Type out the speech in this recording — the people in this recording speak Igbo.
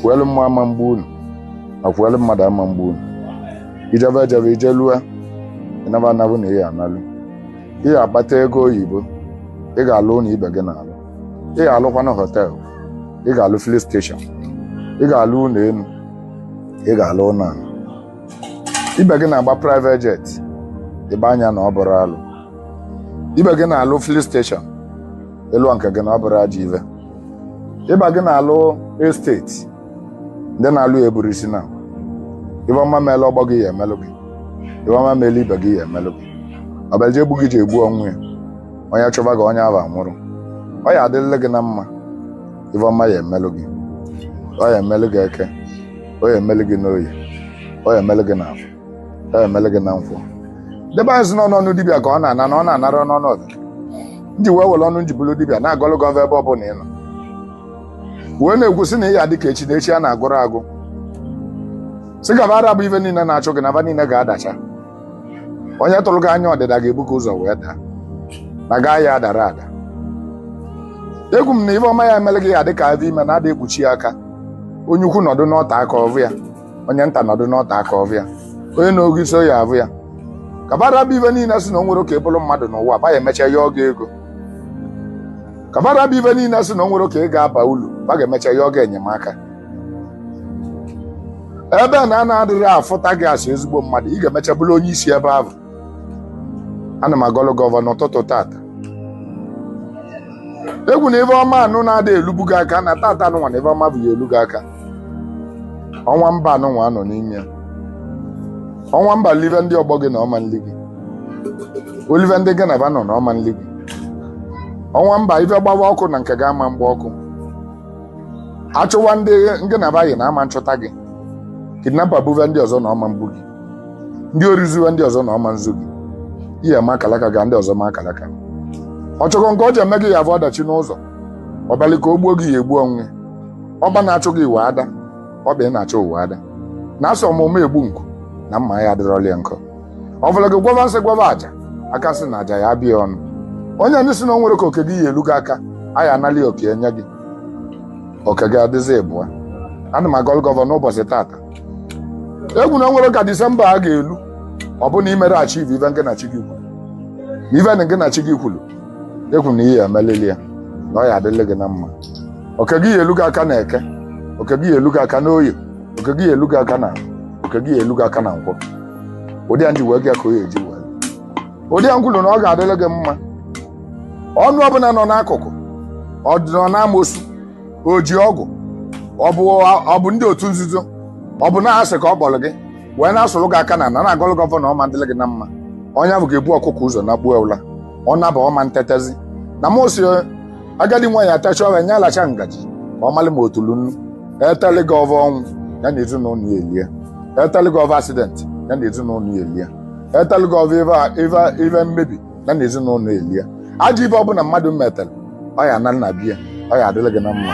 fuelu mmụọ ama mgbu unu ma fuelu mmadụ ama mgbu unu i jebe ejebe i jelue ị naba anaba na ị ya analu ị ga-akpata ego oyibo ị ga-alụ ụnọ ibe gị na-alụ ị ga-alụkwana họteelụ ị ga-alụ filin steshọn ị ga-alụ ụnọ enu ị ga-alụ ụnọ anị ibe gị na-agba private jet ị gba anya na ọ bụrọ alụ ibe gị na-alụ filin steshọn ị lụọ nke gị na ọ bụrọ ajọ ive ibe gị na-alụ esteti ndị na-alụ ya eburọ isi naabọ ive ọma meelụ ọgbọ gị ya emelụ gị ive ọma meelụ ibe gị ya emelụ gị ọbịaje egbu gị ji egbu onwe ya onye chụva gị onye ahụ anwụrụ ọ ya adịlị gị na mma ive ọma ya emelụ gị ọ ya emelụ gị eke ọ ya emelụ gị n'oye ọ ya emelụ gị n'afọ ya emelụ gị na nkwọ ndị be anyị sị n'ọnụ ọnụ dibịa ka ọ na-ana na ọ na-anarọ n'ọnụ ọdụ ndị wee were ọnụ m ji bụlụ dibịa na-agọlụ gị ọvọ ebe ọ bụla ị nọ wee na-ekwu sị na ị ya dị ka echi na echi a na-agwụrọ agwụ sị ka va ra bụ ive niile na-achụ gị na ba niile ga-adacha onye tụrụ gị anya ọdịda ga-ebu gị ụzọ wee daa na gị ya adarọ ada ekwu m na ive ọma ya emelụ gị ya dị ka avọ ime na a da ekpuchi ya aka onye ukwu nọdụ n'ote aka ọ vụ ya onye nta nọdụ n'ote aka ọ vụ ya onye na-ogo isi ọ ya avụ ya ka ba ra bụ ive niile sị na o nwerọ ka ị bụrụ mmadụ n'ụwa ba ya emecha yọọ gị ego ka ba ra bụ ive niile sị na o nwerọ ka ị ga-aba ulu ba ga-emecha yọọ gị enyemaka ebe na a na-adịghị afụta gị asị ezigbo mmadụ ị ga-emecha bụrụ onye isi ebe ahụ ana m agọlụ gị ọvọ n'ụtụtụ tata ekwu na ive ọma anụ na-ada elubu gị aka na tata anụnwa na ive ọma bụ ya elu gị aka ọnwa mba anụnwa a nọ n'ime ya ọnwa mba live ndị ọgbọ gị na ọ ma nli gị o live ndị gị na ba nọ na ọ ma nli gị ọnwa mba ive gbawa ọkụ na nke gị ama mgba ọkụ a chụwa ndị gị na ba yi na a ma nchụta gị kidnapa buve ndị ọzọ na ọ ma mbu gị ndị ori zuwe ndị ọzọ na ọ ma nzu gị ihe ma akalaka ga ndị ọzọ ma akalaka ọ chọkọ nke ọ ya eme gị ya vụ ọdachi n'ụzọ ọ bịalụ ka o gbuo gị ya egbu onwe ọba na-achụ gị nwe ada ọba ị na-achụ o nwe ada na asọ mma mma egbu nkwụ na mma ya adịrọlị nkwụ ọ vụlụ gị gwọva nsị gwọva aja aka nsị na aja ya aba ya ọnụ onye ndị sị na o nwerọ ka oke gị ya elu gị aka a ya analị ya oke nye gị oke gị adịzi ịbụa ana m agọlụ gị ọvọ n'ụbọchị tata ekwu na o nwerọ ka disemba a ga-elu ọ bụ na i merọ achiv ive gị na chi gị kwulu ive nụ gị na chi gị kwulu ekwu na ị ya emelịlị ya na ọ ya adịlị gị na mma oke gị ya elu gị aka na eke oke gị ya elu gị aka na oye oke gị ya elu gị aka na oke gị ya elu gị aka na nkwọ ụdị ya ndị wee gị ka oye eji wee ụdị ya nkwulu na ọ ga-adịlị gị mma ọnụ ọbụna nọ n'akụkụ ọ dị nọ n'amosu o ji ọgwụ ọ bụ ọ bụ ndị otu nzuzo ọ bụ na asị ka ọ kpọlị gị wee na-asụrụ gị aka n'ana na-agọlụ gị ọvọ na ọ ma ndịlị gị na mma onye ahụ ga-ebu ọkụkọ ụzọ nakpuo ụla ọ naba ọ ma ntetezi na m si agadi nwaanyị etecha ove nya alacha ngaji ka ọ malị ma o tulu nnu eteli gị ove ọnwụ ya na ezinụnọ ya elie eteli gị ove accident ya na ezinụnọ ya elie eteli gị ove ive ive ive mmebi ya na ezinụnọ elie ajọ ive ọbụna mmadụ metere ọ ya-ana na be ya ọ ya-adịlị gị na mma